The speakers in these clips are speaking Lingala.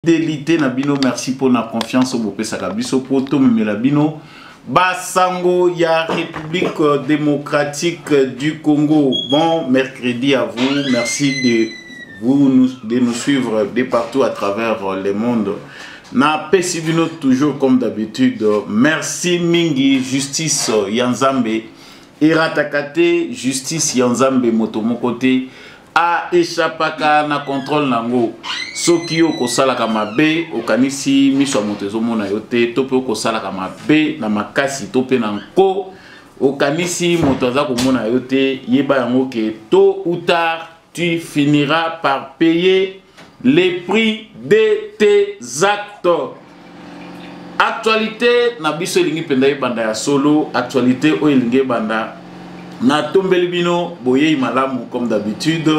fidelite na bino merci mpo na confiance oyo bopesaka biso mpo tomemela bino basango ya république démocratique du congo bon mercredi à vous merci de vous nous, de nous suivre de partout à travers le monde napesi bino toujours comme d'habitude merci mingi justice ya nzambe erataka te justice ya nzambe moto moko te a echapaka na controle na yango soki yo okosalaka mabe okanisi miso ya moto ezomona yo te to mpe okosalaka mabe na makasi to mpe na nko okanisi moto aza komona yo te yeba yango ke tôt ou tard tu finiras par payer les prix de tes actes actualité na biso elingi mpenza ebanda ya solo actualité oyo elingi ebanda natombeli bino boyei malamu comme d'habitude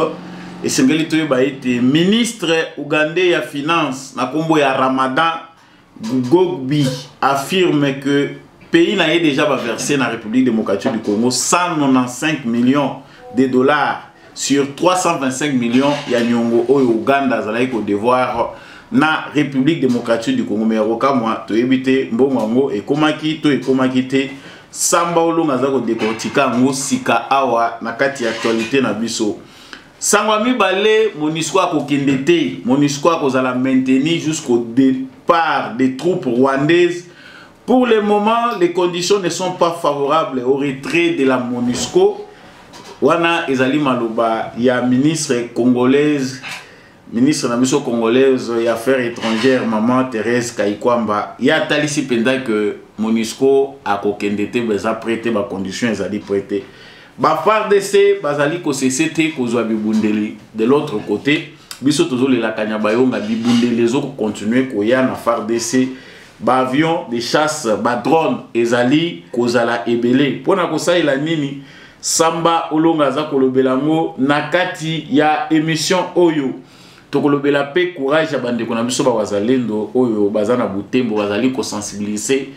esengeli toyeba ete ministre ougandais ya finance na nkombo ya ramadan gogbi affirme que pays na ye déjà baverse na république démocratique du congo 195 millions de dollars sur 325 millions ya nyongo oyo uganda azalaki kodevoir na république démocratique du congo me ya kokamwa toyebi te mbongo yango ekomaki to ekomaki te samba olonga aza kodekortika yango sika awa na kati ya actualité na biso sango ya mibale monisco akokende te monisco akozala mainteni jusqu'au départ des troupes rwandaises pour le moment les conditions ne sont pas favorables au retrait de la monisco wana ezali maloba ya ministre congolaise ministre na biso congolaise ya affaires étrangères maman therese kaikwamba ye atalisi mpenza ke monusco akokende te baza pre te bacondition ezali pre te bafardc bazali kosese te kozwa bibundeli de l'autre côté biso tozolela kanyabayonga bibundeli ezokokontinue koya na fardc ba avions de chasse ba drones ezali kozala ebele mpo na kosalela nini samba olonga aza kolobela yango na kati ya emission oyo tokolobela mpe courage ya bandeko na biso bawazalendo oyo baza na butembo bazali kosensibilize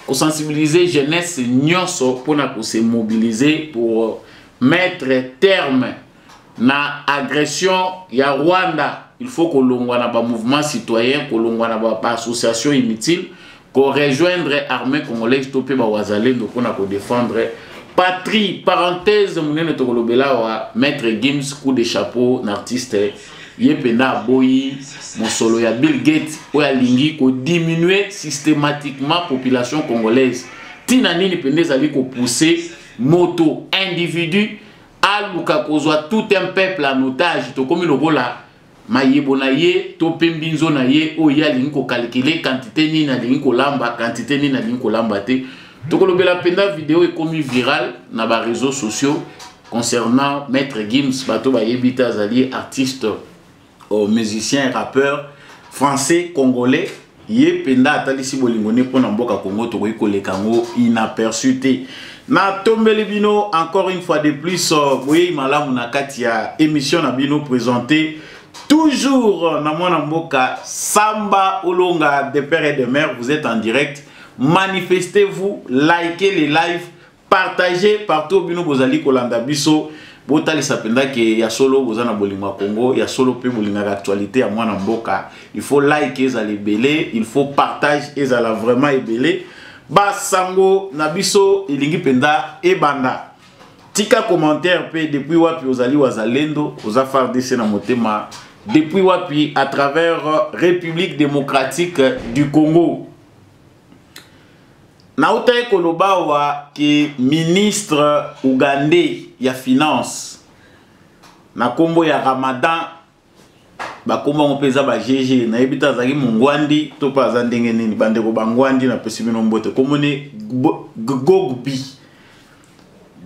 kosensibilize jeunesse nyonso mpo na kosemobilize pour mettre terme na agression ya rwanda il faut kolongwa na bamouvement citoyen kolongwa na baassociation ba inutile korejoindre armée congolaise to mpe bawazalendo mpona kodefendre patrie parenthèse monene tokolobela wa maître gims coup de chapeau na artiste ye mpenza aboyi mosolo ya bill gates oyo alingi kodiminue systématiquement population congolaise ntina nini mpenza ezali kopousse moto individu aluka kozwa tout un peuple en otage tokomi lokola mayebo na ye to mpe mbinzo na ye oyo ye alingi kokalkile kantite nini alingi kolamba kantite nini alingi kolamba te tokolobela mpenza video ekomi viral na bareseau sociaux concernant maître gims bato bayebi te azali artiste oh, musicien rappeur français congolais ye mpenza atalisi bolingo ne mpo na mboka congo tokoki koleka yango inaperçu te natombeli bino encore une fois de plus euh, boyei malamu na kati ya émission na bino présente toujours na mwana mboka samba olonga de père et de mère vous êtes en direct manifestez vous likez les lives partager partout bino bozali kolanda biso botalisa mpenza ke ya solo boza na bolingo ya congo ya solo mpe bolingaka actualité ya mwana mboka il faut like ezala ebele il faut partage ezala vraiment ebele basango na biso elingi mpenza ebanda tika commentaire mpe depuis wapi ozali wazalendo oza fardc na motema depuis wapi à travers république démocratique du congo nautaki koloba awa ke ministre ougandais ya finance na nkombo ya ramadan bakombo yango mpe eza bagege nayebi te azalaki mongwandi to mpe aza ndenge nini bandeko bangwandi napesi bino mbote nkombo nde gogbi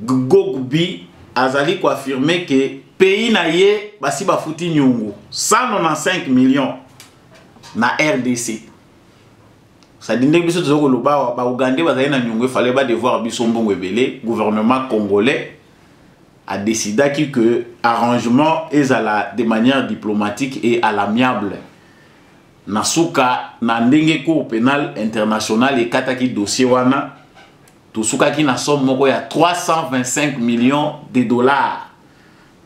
gogbi azali koafirme ke pays na ye basi bafuti nyongo 195 millions na rdc sadi ndenge biso toza koloba awa baugandais bazali na nyongo efale badevoir biso mbongo ebele gouvernement congolais adecidaki que arrangement ezala de manière diplomatique et à l'amiable na suka na ndenge cour pénal international ekataki dossier wana tosukaki na somme moko ya 325 millions de dollars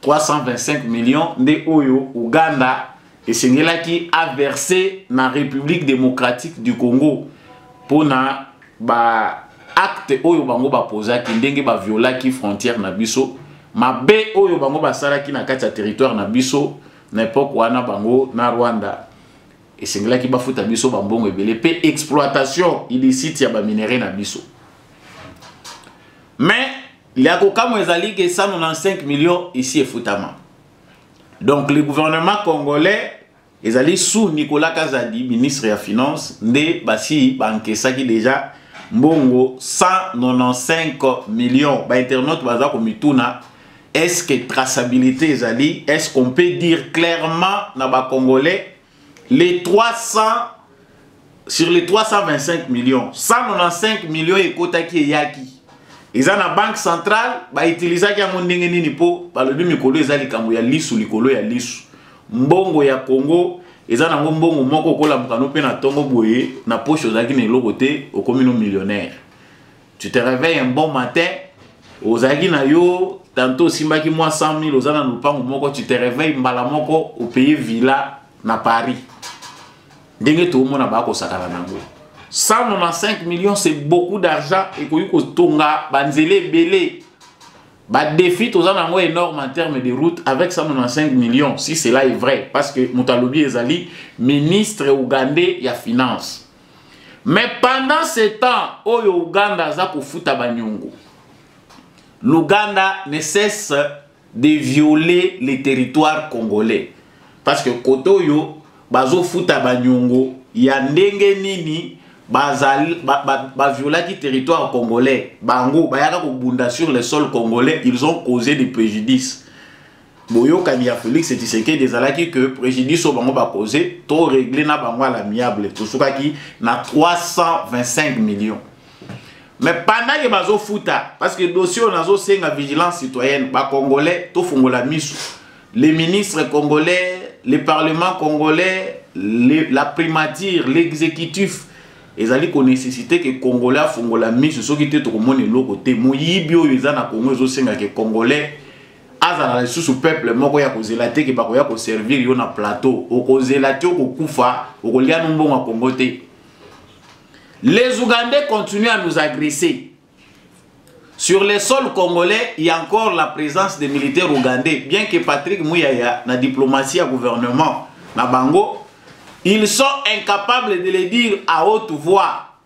325 millions nde oyo Ouganda esengelaki averse na République démocratique du Congo mpo na ba acte oyo bango bapozaki ndenge baviolaki frontière na biso mabe oyo bango basalaki na kati ya territoire na biso na epoke wana bango na rwanda esengelaki bafuta biso bambongo ebele mpe exploitation illicite ya baminerai na biso mais Ya kokamwa ezali ke 195 millions isi efutama. Donc le gouvernement congolais ezali sous Nicolas Kazadi, ministre ya finance, nde basi bankesaki deja mbongo 195 millions. Ba internautes baza komituna est-ce que traçabilité ezali? Est-ce qu'on peut dire clairement na ba congolais les 300 sur les 325 millions 195 millions ekotaki eyaki eza na banque centrale bautilisaki yango ndenge nini mpo balobi mikolo eza likambo ya lisu likolo ya lisu mbongo ya congo eza nango mbongo moko okolamukano mpe na ntongo boye na poshe ozalaki na eloko te okomi no millionnaire tu te réveilles un bon matin ozalaki na yo tantôt osimbaki mwa 100 000 oza na lopango moko tu te réveilles mbala moko opaye villa na paris ndenge toomona bakosakana nango 195 millions c'est beaucoup d'argent ekoki kotonga banzela ebele badefi toza na yango énorme en terme de route avec 195 millions si cela est vrai parce que moto alobi ezali ministre ougandais ya finance mais pendant ce temps oyo uganda aza kofuta banyongo l'ouganda ne cesse de violer les territoires congolais parce que kote oyo bazofuta banyongo ya ndenge nini baviolaki ba, ba, ba territoire congolais bango bayaka kobunda sur le sol congolais ils ont causé des préjudices boyokani ya Felix Tshisekedi ezalaki que préjudice oyo bango bakoze to régler na bango à l'amiable tosukaki na 325 millions mais pendant que bazofuta parce que dossier oyo nazosenga vigilance citoyenne bacongolais tofungola miso les ministres congolais le parlement congolais le, la primature l'exécutif ezali konesesite ke congolais afungola miso soki te tokomona eloko te moyibi oyo eza na congo ezosenga ke congolais azala lisusu peuple moko ya kozela te ke bakoya koservir yo na plateau okozela te okokufa okolia no mbongo ya kongo te les ougandais continuent à nous agresser sur le sol congolais il y a encore la présence des militaires ougandais bien que patrick muyaya na diplomatie ya gouvernement na bango ils sont incapables de le dire à haute voix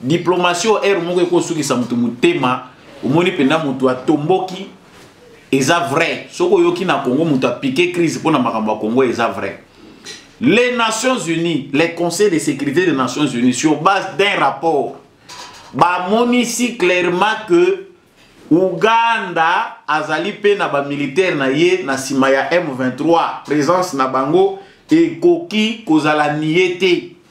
diplomatie oyo heure moko ekosukisa moto motema omoni mpenza moto atomboki eza vrai soki oyoki na congo moto apike crise mpo na makambo ya congo eza vrai les nations unies les conseils de sécurité des nations unies sur base d'un rapport bamonisi clairement que uganda azali mpe na bamilitaire na ye na nsima ya m23 présence na bango ekoki kozala nie te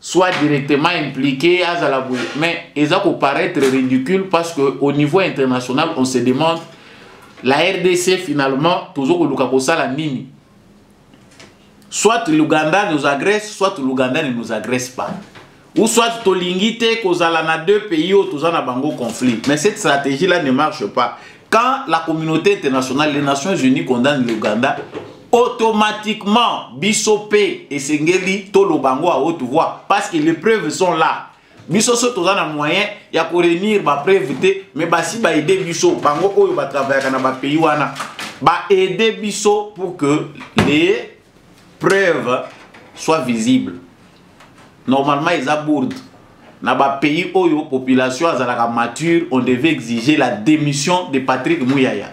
soit directement impliqué azala boye mais eza ko paraître ridicule parce que au niveau international on se demande la rdc finalement tozo koluka kosala nini soit l'ouganda nous agresse soit l'ouganda ne nous agresse pas ou soit tolingi te kozala na deux pays oyo toza na bango conflit mais cette stratégie là ne marche pas quand la communauté internationale les nations unies condamne l'ouganda automatiquement biso pe esengeli toloba yango à haute voix parce que les preuves sont là biso so toza na moyen ya korenir bapreuve te mais basi baede biso bango oyo batravayaka na bapays wana baede biso pour que les preuves soient visibles normalement eza bourde na bapays oyo population azalaka mature on devait exiger la démission de patrick muyaya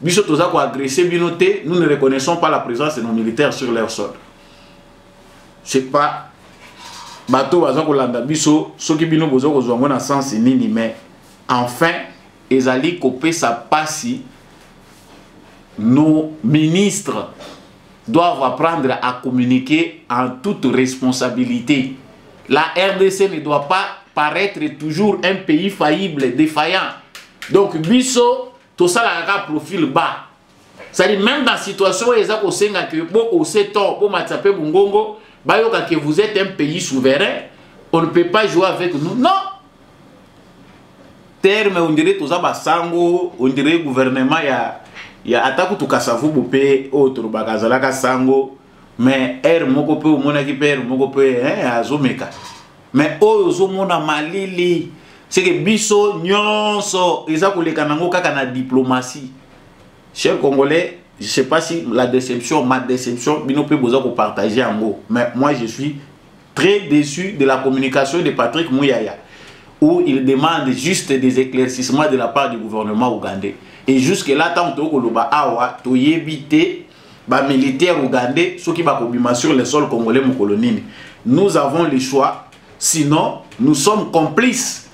biso toza ko agresser bino te nous ne reconnaissons pas la présence de nos militaires sur leur sol c'est pas bato baza kolanda biso soki bino boza kozwa yango na sense nini mais enfin ezali kopesa mpasi nos ministres doivent apprendre à communiquer en toute responsabilité. La RDC ne doit pas paraître toujours un pays faillible, défaillant. Donc, Bisso, tosalaka kaka profil bas cest à même dans situation oyo eza kosenga ke bo ose to bomatisa mpe mongongo bayoka ke vous êtes un pays souverain on ne peut pas jouer avec nous non terme on dirait toza basango on dirait gouvernement ya ya ata kutu kasavubu mpe oyo tolobaka azalaka sango mais heure moko mpe omonaki mpe heure moko mpe eh, azomeka mais oyo ozomona malili seke biso nyonso eza koleka nango kaka na diplomatie cher congolais je sais pas si la déception ma déception bino mpe boza kopartage yango mais moi je suis très déçu de la communication de patrick muyaya où il demande juste des éclaircissements de la part du gouvernement ougandais et jusque là ntango toyokoloba awa toyebi te ba militaire ougandais soki bakobima sur le sol congolais mokolo nini nous avons le choix sinon nous sommes complices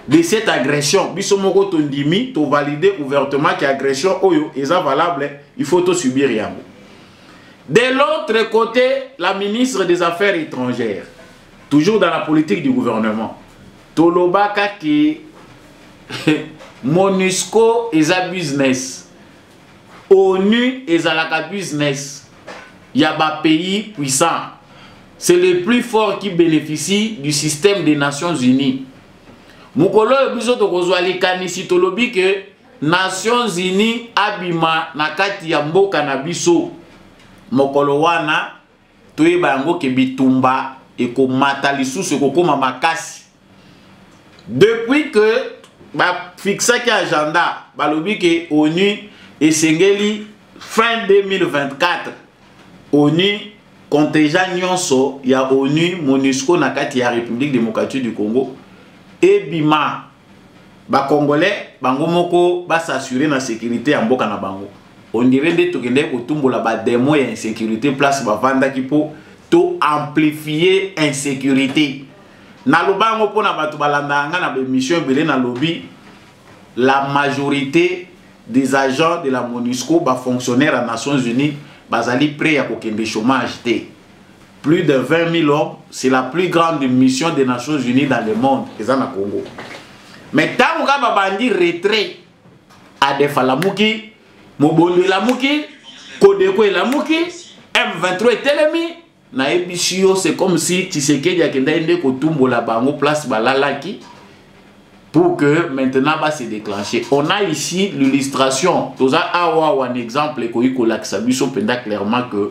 de cette agression biso moko tondimi tovalide ouvertement ke agression oyo eza valable il faut tosubir yango de l'autre côté la ministre des affaires étrangères toujours dans la politique du gouvernement tolobaka ke monusco eza business onu ezalaka business ya ba pays puissant c'est le plus fort qui bénéficie du système des nations unies mokolo oyo biso tokozwa likanisi tolobi ke nations unies abima na kati ya mboka na biso mokolo wana toyeba yango ke bitumba ekomata lisusu ekokoma makasi depuis que bafixaki agenda balobi ke onu esengeli fin 2024 onu contingent nyonso ya onu monusco na kati ya république démocratique du congo ebima ba congolais bango moko ba s'assurer na sécurité ya mboka na bango on dirait nde tokendeki kotumbola ba démon ya insécurité place bavandaki mpo to amplifie insécurité naloba yango mpo na bato balandaka ngai na baémission ebele nalobi la majorité des agents de la monusco bafonctionnaire ya nations unies bazali près ya kokende chômage te plus de 20 000 hommes c'est la plus grande mission des nations unies dans le monde eza na congo mais ntango kaka babandi retrait adefa alamuki mobondo elamuki kodeko elamuki m23 etelemi nayebisi yo c'est comme si tshisekedi akendaki nde kotumbola bango place balalaki pour que maintenant va se déclencher. On a ici l'illustration. Toza awa un exemple ekoki kolakisa biso penda clairement que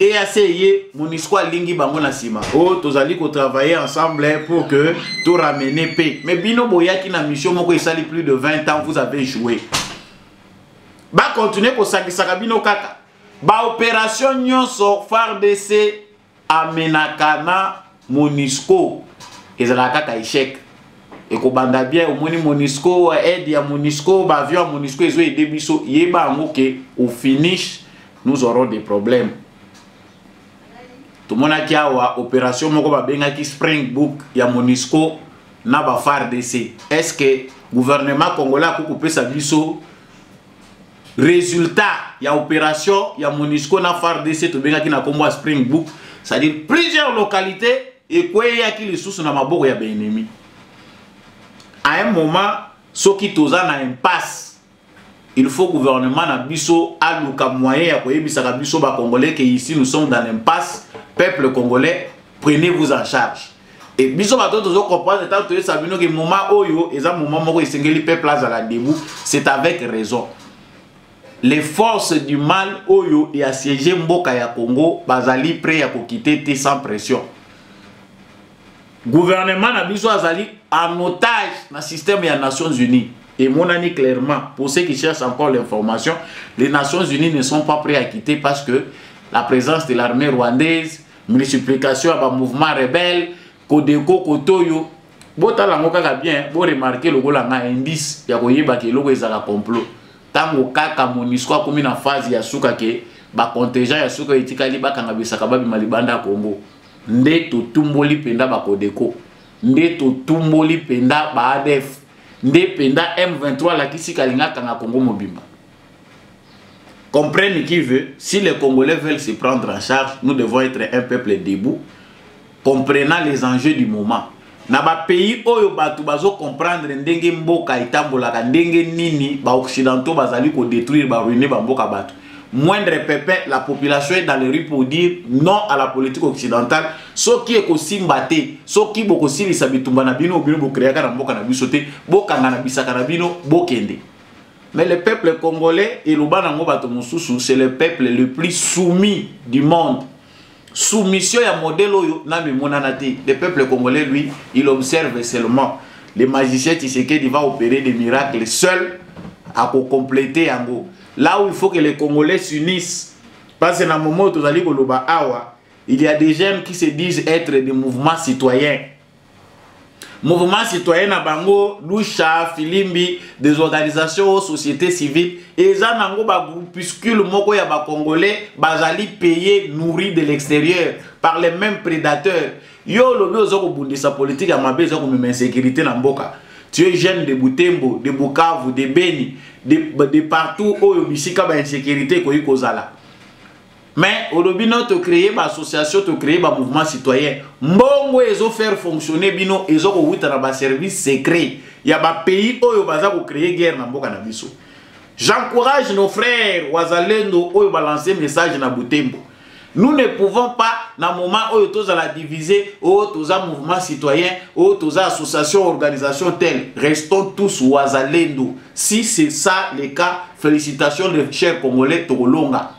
EAC ye Monisco alingi bango na sima. Oh tozali ko travailler ensemble hein, pour que to ramener paix. Mais bino boyaki na mission moko esali plus de 20 ans vous avez joué. Ba continuer ko sangisaka bino kaka. Ba opération nyonso FARDC amenaka na monusco ezalaka kaka echec ekobanda bien omoni monusco aide ya monusco baavion ya monusco ezo ede biso yeba yango ke au finish nous aurons des problèmes tomonaki awa opération moko babengaki spring book ya monusco na bafardc est ce que gouvernement congolais akoki kopesa biso résultat ya opération ya monisco na fardc tobengaki na nkombo ya spring book c'est-à-dire plusieurs localités ekweyaki lisusu na maboko ya baennemi à un moment soki toza na impasse il faut gouvernement na biso aluka moyen ya koyebisaka biso bacongolais ke ici nous sommes dans l'impasse peuple congolais prenez vous en charge Et biso bato tozo comprendre tant que ça bino que moment oyo eza moment moko esengeli peuple azala debout c'est avec raison les forces du mal oyo ya siège mboka ya Congo bazali prêt ya kokite te sans pression gouvernement na biso azali en otage na système ya Nations Unies et monani clairement pour ceux qui cherchent encore l'information les Nations Unies ne sont pas prêts à quitter parce que la présence de l'armée rwandaise multiplication ya ba mouvement rebelle kodeko kotoyo botala yango kaka bien boremarke lokola nga indice ya koyeba ke eloko ezala complot ntango kaka monisco akomi na phase ya suka ke bacontingent ya suka etikali bakanga bisaka babima libanda ya congo nde totumboli mpenza bakodeko nde totumboli mpenza baadf nde mpenza m23 alakisi kalinga akanga congo mobimba Comprenne qui veut, si les Congolais veulent se prendre en charge, nous devons être un peuple debout, comprenant les enjeux du moment. na bapays oyo bato bazocomprendre ndenge mboka etambolaka ndenge nini baoccidentaux bazali kodétruire baruine bamboka bato moindre pepin la population est dans les rues pour dire non à la politique occidentale soki ekosimba te soki bokosilisa bitumba na bino bino bokreaka na mboka na biso te bokanga na bisaka na bino bokende Mais le peuple congolais, et l'Obanango Batomosusu, c'est le peuple le plus soumis du monde. Soumission ya modèle oyo na mimonanati. Le peuple congolais, lui, il observe seulement. Le magicien Tshisekedi va opérer des miracles seul à compléter yango. Là où il faut que les Congolais s'unissent, parce que na moment tozali koloba awa, il y a des jeunes qui se disent être des mouvements citoyens. mouvement citoyen na bango lusha filimbi des organisations o société civile eza nango bagroupuscule moko ya bacongolais bazali paye nourri de l'extérieur par les mêmes prédateurs yo olobi oza kobundisa politike ya mabe eza komema insécurité na mboka tu es jeune de butembo de bukavu de beni de, de partout oyo bisika bainsécurité ekoki kozala mais olobi no to créer ba association to créer ba mouvement citoyen mbongo ezo faire fonctionner bino ezo kowuta na ba service secret ya ba pays oyo baza ko créer guerre na mboka na biso j'encourage nos frères wazalendo oyo ba lancer message na butembo nous ne pouvons pas na moment oyo tozala diviser oyo oh, toza mouvement citoyen oyo oh, toza association organisation telle restons tous wazalendo si c'est ça le cas félicitations les chers congolais tokolonga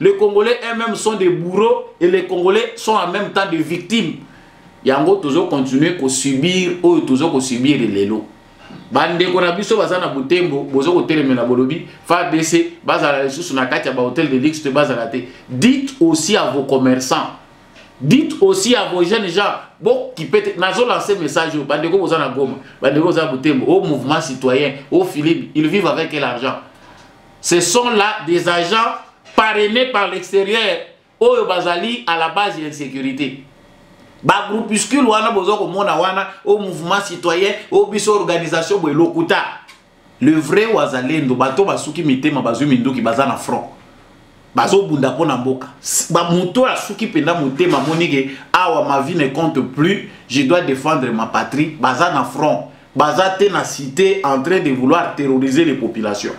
Les Congolais eux-mêmes sont des bourreaux et les Congolais sont en même temps des victimes. Yango tozo continuer ko subir oyo tozo ko subir lelo. bandeko na biso baza na butembo boza kotelemela bolobi fabc bazala lisusu na kati ya bahotel de luxe te bazala te dites aussi à vos commerçants dites aussi à vos jeunes gens bokipe te nazolanse message oyo bandeko boza na goma bandeko boza na butembo o mouvement citoyen o philipe ils vivent avec l'argent ce sont là des agents parrainés par l'extérieur oyo bazali à la base ya insécurité bagroupuscule wana boza komona wana au mouvement citoyen au biso organisation boye lokuta le vrai wazalendo bato basuki mitema bazwi minduki baza na front bazobunda mpo na mboka bamoto oyo asuki mpenza motema amonike awa ma vie ne compte plus je dois défendre ma patrie baza na front baza te na cité en train de vouloir terroriser les populations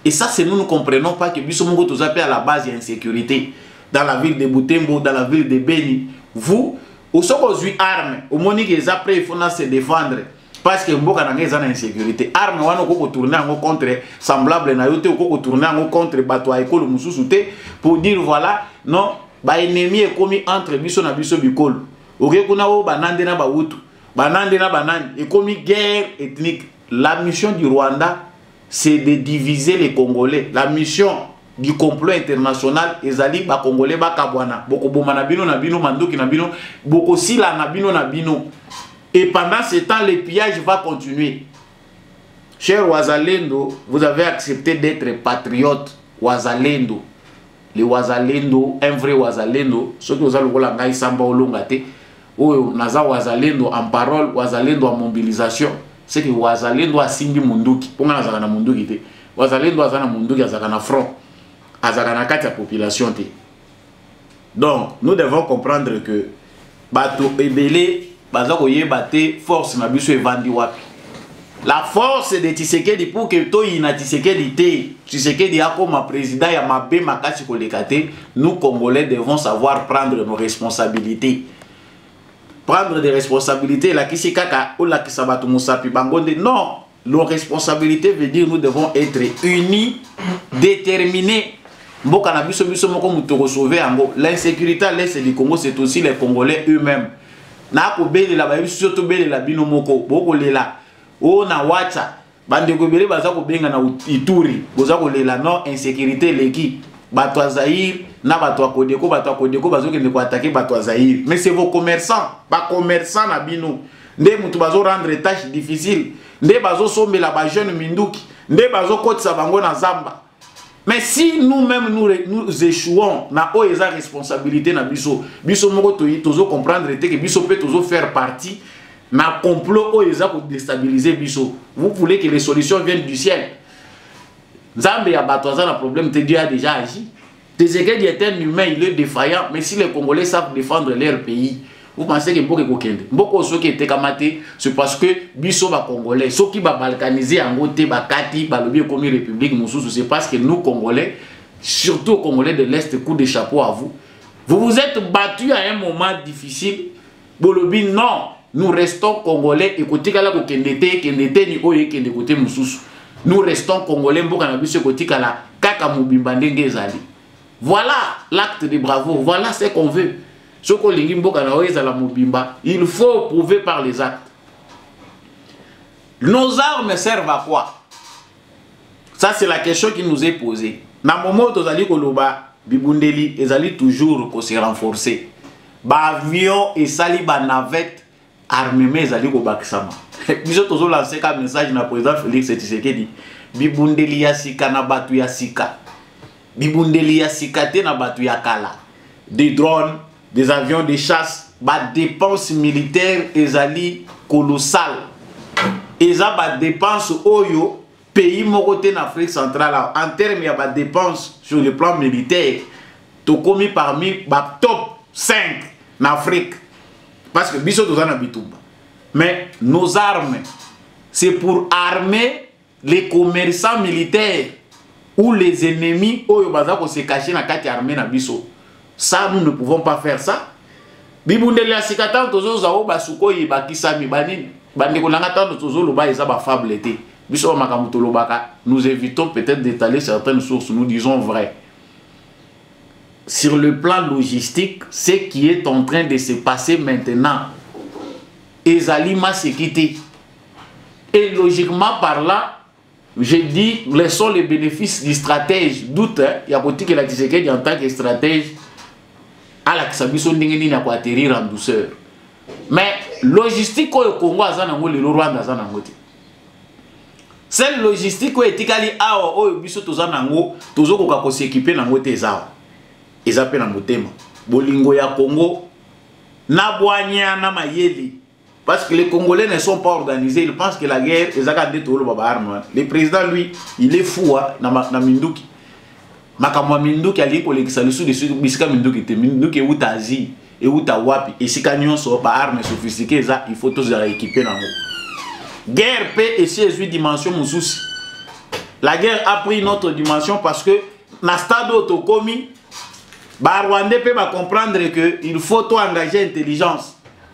et ça c'est nous ne comprenons pas que biso moko toza pe à la base ya insécurité dans la ville de Butembo dans la ville de Beni vous osoko ozwi arme omoni ke eza prêt il faut na se défendre parce que mboka na ngai eza na insécurité arme wana okoki kotourne yango contre semblable na yo te okoki kotourne yango contre bato ya ekolo mosusu te pour dire voilà non baennemi ekomi entre biso na biso bikolo oke kuna oyo banande na bawutu banande na banani ekomi guerre ethnique la mission du rwanda c'est de diviser les congolais la mission du complot international ezali bakongole bakabwana bokoboma na bino na bino manduki na bino bokosila na bino na bino et pendant ce temps le pillage va continuer cher wazalendo vous avez accepté d'être patriote wazalendo le wazalendo un vrai wazalendo soki oza lokola ngai samba olonga te oyo naza wazalendo en parole wazalendo en mobilisation seke wazalendo asimbi munduki mpo ngai nazalaka na munduki te wazalendo aza na munduki azalaka na front azalaka na kati ya population te donc nous devons comprendre que bato ebele baza koyeba te force na biso evandi wapi la force de tisekedi pour que toyina tisekedi te tisekedi akoma président ya mabe makasi koleka te nous congolais devons savoir prendre nos responsabilités prendre des responsabilités elakisi kaka olakisa bato mosapi bango nde non Nos responsabilités veut dire nous devons être unis, déterminés. Mboka na biso biso moko mutoko sauver yango. L'insécurité à l'est du Congo c'est aussi les Congolais eux-mêmes. Na ko belela ba biso to belela bino moko boko lela. O na wacha bandeko ebele baza ko benga na Ituri boza ko lela non insécurité leki bato ya Zaïre na bato ya Kodeko bato ya Kodeko bazokende ko attaquer bato ya Zaïre mais c'est vos commerçants ba commerçants na bino nde mutu bazo rendre tâche difficile nde bazo sombela ba jeune minduki nde bazo kotisa bango na zamba mais si nous même nous, nous échouons na oyo eza responsabilité na biso biso moko tozo comprendre te que biso pe tozo faire partie na complot oyo eza ko déstabiliser biso vous voulez que les solutions viennent du ciel nzambe ya bato aza na problème te dieu a déjà agi Tshisekedi est un humain, il est défaillant, mais si les Congolais savent défendre leur pays, vous pensez que mboka ekokende mboka soki etekama te c'est parce que biso bacongolais soki babalkanise yango te bakati balobi ekomi république mosusu c'est parce que nous congolais surtout congolais de l'est coup de chapeau à vous vous vous êtes battu à un moment difficile bolobi non nous restons congolais ekotikala kokende te ekende te ni oyo ekende kote mosusu nous restons congolais mboka na biso ekotikala kaka mobimba ndenge ezali voilà l'acte de bravo voilà ce qu'on veut soki olingi mboka na yo ezala mobimba il faut prouver par les actes nos armes servent à quoi ça c'est la question qui nous est posée na momo oyo tozali koloba bibundeli ezali toujours kose renforcer baavion esali banavette armement ezali kobakisama biso tozolanse ka message na président félix tshisekedi bibundeli ya sika na bato ya sika bibundeli ya sika te na bato ya kala de drone des avions de chasse badepense militaire ezali colossal eza badepense oyo pays moko te na afrique centrale en terme ya badepense sur le plan militaire tokomi parmi batop 5 na afrique parce que biso toza na bitumba mais nos armes c'est pour armer les commerçants militaires ou les ennemis oyo baza ko se cacher na kati armée na biso ça nous ne pouvons pas faire ça bibundeli ya sika ntango tozoza oyo basukoi ebakisami banini bandeko na ngai ntango tozoloba eza bafable te biso ba makambo tolobaka nous évitons peut-être d'étaler certaines sources nous disons vrai sur le plan logistique ce qui est en train de se passer maintenant ezali maseki te Et logiquement parlant, je dis, laissons les bénéfices du stratège, doute, hein, ya kotikela Tshisekedi en tant que stratège, alakisa biso ndenge nini ako atterrir en douceur. Mais logistique oyo Congo aza nango lelo Rwanda aza nango te. Seule logistique oyo etikali awa oyo biso toza nango, tozokoka ko s'équiper nango te eza awa. Eza pe na motema. Bolingo ya Congo na bwanya na mayele Parce que les Congolais ne sont pas organisés, ils pensent que la guerre, ils ont tout le monde. Le président, lui, il est fou, hein, na minduki. Makambo ya minduki alingi kolekisa lisusu lisusu bisika minduki te minduki euta asie euta wapi esika nyonso baarme sophistiqué eza il faut tozala équipe nango guerre mpe esi ezwi dimension mosusu la guerre a pris notre dimension parce que na stade oyo tokomi barwandais mpe bacomprendre que il faut toengage intelligence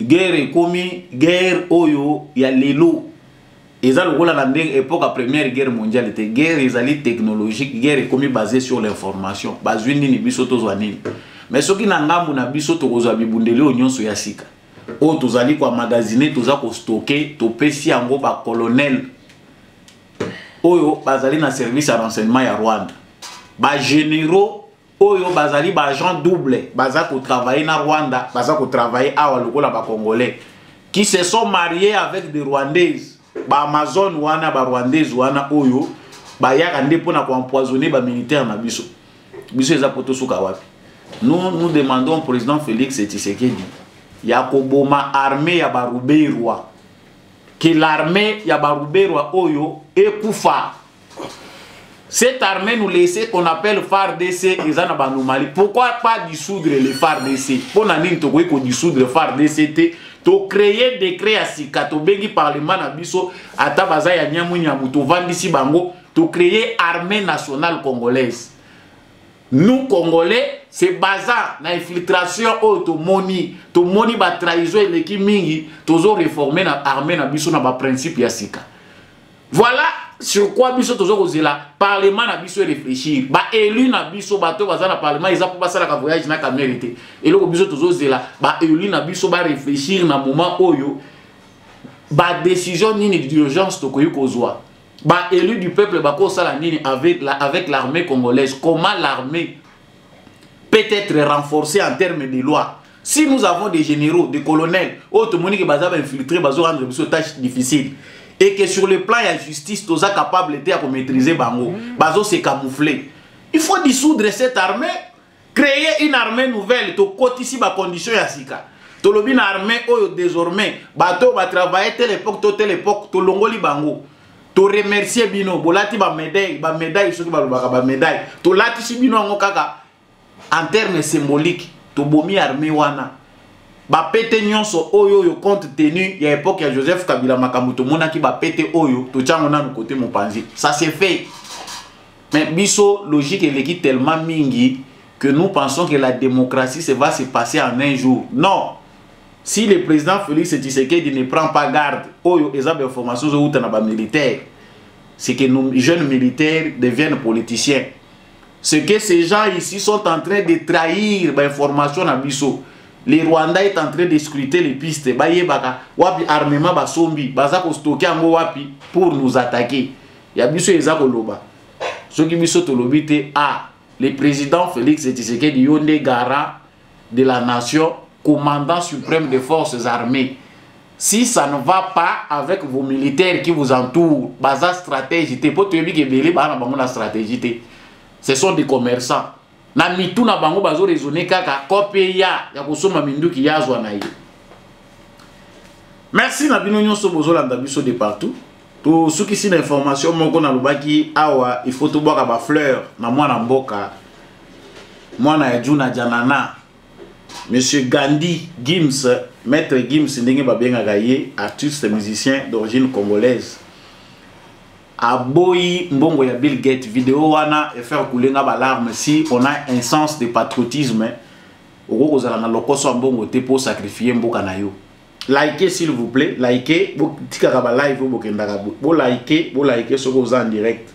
guerre ekomi guerre oyo ya lelo eza lokola na ndenge epoque ya première guerre mondiale te guerre ezali technologique guerre ekomi basé sur l'information bazwi nini biso tozwa nini mais soki na ngambo na biso tokozwa bibundeli oyo nyonso ya sika oyo tozali koamagasine toza kostoke topesi yango bacolonel oyo bazali na service ya renseignement ya rwanda bagénéraux oyo bazali ba agent double baza kotravaille na rwanda baza kotravaille awa lokola bacongolais qui se sont mariés avec des rwandaises baamazone wana barwandaise wana oyo bayaka nde mpo na koempoisonne bamilitaire na biso biso eza mpo tosuka wapi nous, nous demandons au président félix tshisekedi ya koboma armée ya baruberwa ke l'armée ya baruberwa oyo ekufa Cette armée nous laissait qu'on appelle FARDC eza na banomali. Pourquoi pas dissoudre le FARDC Mpo na nini tokoki ko dissoudre FARDC te to créer décret ya sika tobengi parlement na biso ata baza ya nyamunyamu tovandisi bango to créer armée nationale congolaise. Nous congolais se basant na infiltration oyo tomoni tomoni batrahison eleki mingi tozo reforme na armée na biso na baprincipe ya sika. Voilà sur quoi biso tozo kozela parlement na biso réfléchir ba élu na biso bato baza na parlement eza mpo basalaka voyage na kamere te eloko biso tozo zela ba élu na biso ba réfléchir na moment oyo ba décision nini d'urgence tokoki kozwa ba élu du peuple bakosala nini avec la, avec l'armée congolaise comment l'armée peut être renforcé en terme de loi si nous avons des généraux des colonels oyo tomoni ke baza bainfiltré bazo rendre biso tâche difficile et que sur le plan ya justice toza capable te ya komaîtrise bango bazo se camoufler il faut dissoudre cette armée créer une armée nouvelle tokotisi bacondition ya sika tolobi na armée oyo désormais bato oyo batravaille telle époque to telle époque tolongoli bango to remercier bino bolati ba médaille ba médaille soki balobaka ba médaille tolatisi bino yango kaka en terme symbolique tobomi armée wana bapete nyonso oyo oyo compte tenu ya époque ya joseph kabila makambo tomonaki bapete oyo totyango nanu kote mopanzi ça se fait mais biso logique eleki tellement mingi que nous pensons que la démocratie se va se passer en un jour non si le président félix tshisekedi ne prend pas garde oyo eza bainformation ezowuta na bamilitaire c'est que nos jeunes militaires deviennent politiciens ce que ces gens ici sont en train de trahir bainformation na biso le rwanda est en train de scruter les pistes bayebaka wapi armement basombi baza kostoke yango wapi pour nous attaquer ya biso eza koloba soki biso tolobi te a ah, le président félix tshisekedi yo nde garant de la nation commandant suprême des forces armées si ça ne va pas avec vos militaires qui vous entourent baza stratégie te mpo toyebi ke ebele baa na bango na stratégie te ce sont des commerçants na mitu na bango bazo raisonne kaka kope ya ya kosomba minduki ya azwa na ye merci na bino nyonso bozolanda biso de partout tosukisi na information moko nalobaki awa il faut tobwaka bafleur na mwana mboka mwana ya juna janana Monsieur Gandhi Gims, maître Gims ndenge babengaka ye, artiste musicien d'origine congolaise. Aboyi mbongo ya Bill Gates, vidéo wana et faire couler nga balarme si on a un sens de patriotisme. Okoki kozala na lokoso ya mbongo te pour sacrifier mboka na yo. Likez s'il vous plaît, likez, botikaka ba live bokendaka bo likez, bo likez soki oza en direct.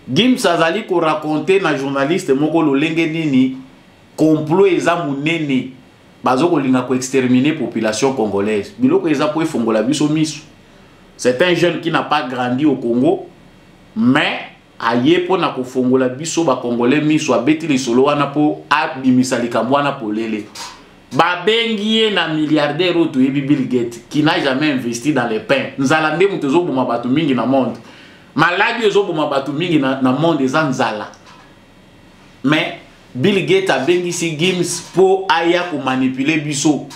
Gims azali ko raconter na journaliste moko lolenge nini complot eza munene bazo kolinga ko exterminer population congolaise biloko eza po efongola biso misu c'est un jeune qui n'a pas grandi au Congo mais aye mpo na kofongola biso bakongole miso abeti lisolo wana mpo abimisa likambo wana polele babengi ye na milliardaire oyo toyebi bill gate qui n'a jamais investi dans le pain nzala nde moto ezoboma bato mingi na monde maladi ezoboma bato mingi na, na monde eza nzala mais Bill Gates abengisi Gims po aya ko manipuler biso.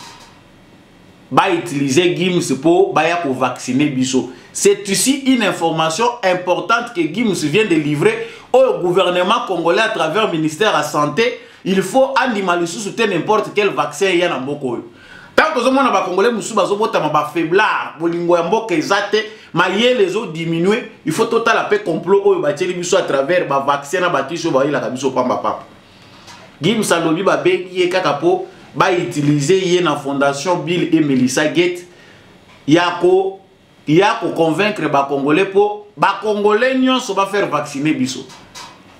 Ba utiliser Gims po baya ko vacciner biso. C'est ici une information importante que Gims vient de livrer au gouvernement congolais à travers ministère de la santé. Il faut andima lisusu te n'importe quel vaccin ya na mboko oyo. ntango tozomona bakongole mosusu bazobotama bafaiblard bolingo ya mboka eza te mayele ezodiminue il faut totala mpe complot oyo batieli biso à travers bavaccin na bakisi oyo bayelaka biso pamba papa gims alobi babengi ye kaka mpo bautilize ye na fondation bill e melissa gate ya ko ya ko convaincre ba congolais po ba congolais nyonso ba faire vacciner biso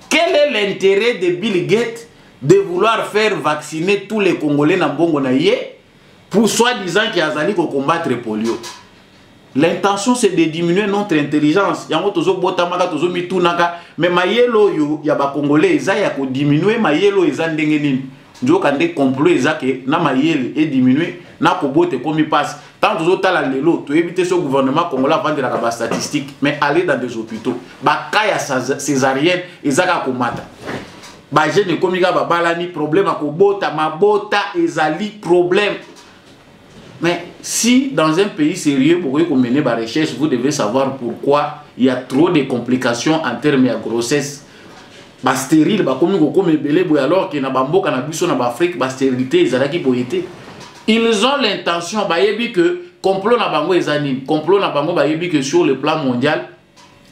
quel est l'intérêt de Bill Gates de vouloir faire vacciner tous les congolais na mbongo na ye pour soi disant ki azali ko combattre polio l'intention c'est de diminuer notre intelligence yango tozobotamaka tozomitunaka mais mayele oyo ya bacongolais eza ya kodiminuer mayele oyo eza ndenge nini nzoka nde complot eza ke na mayele ediminue na kobota ekomi mpasi ntango tozotala lelo toyebi te so gouvernement congolais avandelaka bastatistique mais aller dans des hôpitaux baka ya césarienne eza kaka komata bajeune ekomi kaka babalani problème ya kobota mabota ezali problème Mais si dans un pays sérieux, vous pouvez mener la recherche, vous devez savoir pourquoi il y a trop de complications en termes de grossesse. Ba stérile, ba komi ko komi belé boy alors que na bamboka na biso na Afrique, ba stérilité ezalaki boyete. Ils ont l'intention ba yebi que complot na bango ezani, complot na bango ba yebi que sur le plan mondial,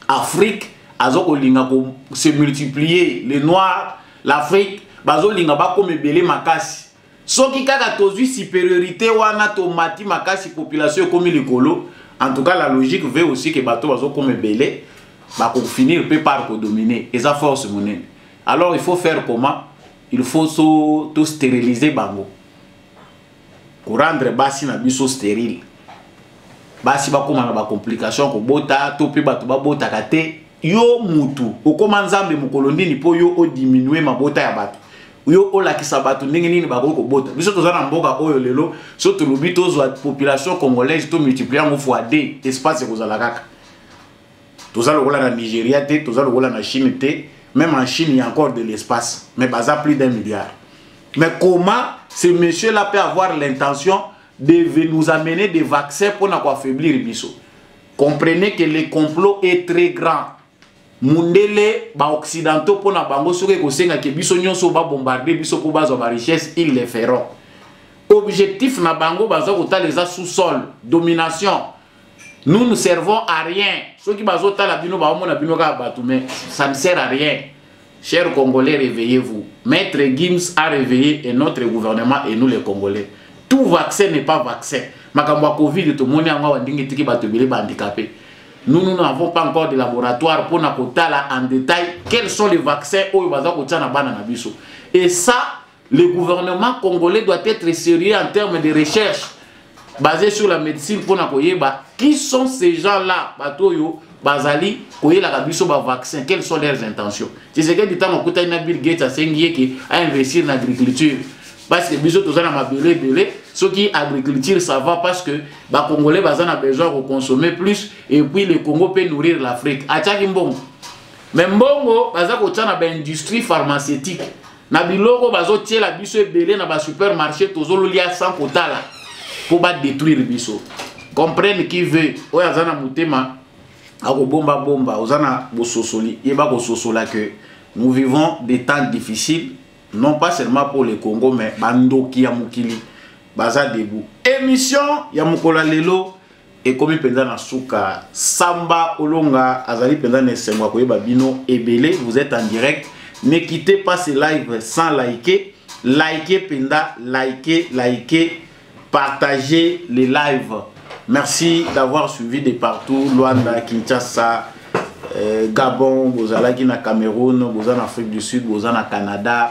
Afrique azo ko linga ko se multiplier les noirs, l'Afrique bazo linga ba komi belé makasi. soki kaka tozwi superiorité wana tomati makasi population ekomi likolo en tout cas la logique veut aussi que bato bazokoma ebele bakofinir mpe par kodomine eza force monene alors il faut faire comment il faut so to steriliser bango korendre basi na biso sterile basi bakóma na bacomplication kobota to mpe bato babotaka te yo mutu okóma nzambe mokolo nini mpo yo odiminue mabota ya bato yo olakisa bato ndenge nini bakoki kobota biso toza na mboka oyo lelo so tolobi tozwa population congolaise to multiplier yango fois 2 espace ekozala kaka toza lokola na nigeria te toza lokola na chine te même en chine il y a encore de l'espace mais baza plus d'un milliard mais comment ce monsieur là peut avoir l'intention de nous amener des vaccins mpona koaffaiblir biso comprenez que le complot est très grand mundele ba occidentaux pona bango soki ekosenga ke biso nyonso ba bombarder biso po bazwa ba richesse ils le feront objectif na bango baza kotala eza sous sol domination nous ne servons à rien soki bazotala bino baomona bino kaka bato mais ça ne sert à rien Chers Congolais, réveillez-vous. Maître Gims a réveillé et notre gouvernement et nous les Congolais. Tout vaccin n'est pas vaccin. Makambo ya Covid, tout le monde a ndenge tiki bato ebele ba handicapés. Nous, nous n'avons pas encore de laboratoire pour nakotala en détail quels sont les vaccins oyo baza kotia na bana na biso. Et ça, Le gouvernement congolais doit être sérieux en termes de recherche basé sur la médecine pour na koyeba qui sont ces gens là bato oyo bazali koyelaka biso bavaccin quelles sont leurs intentions tshisekedi ntango akutani na bill gates asengi ye ke ainvestir na agriculture parce que biso toza na mabele ebele soki agriculture ça va parce que bacongolais baza na besoin ya koconsommer plus et puis le congo mpe nourrir l'afrique atiaki mbongo mais mbongo baza kotya na baindustrie pharmaceutique na biloko bazotiela biso ebele na basupermarché tozololia sans kotala mpo badétruire biso comprenne qui veut oyo aza na motema akobomba bomba oza na bososoli yeba kososola que nous vivons des temps difficiles non pas seulement pour le congo mais bandoki ya mokili baza debout émission ya mokolo ya lelo ekomi mpenza na suka samba olonga azali mpenza na esengo ya koyeba bino ebele vous êtes en direct ne quittez pas ce live sans liker liker mpenza liker liker partager les lives merci d'avoir suivi de partout luanda kinshasa euh, gabon bozalaki na cameroun boza na afrique du sud boza na canada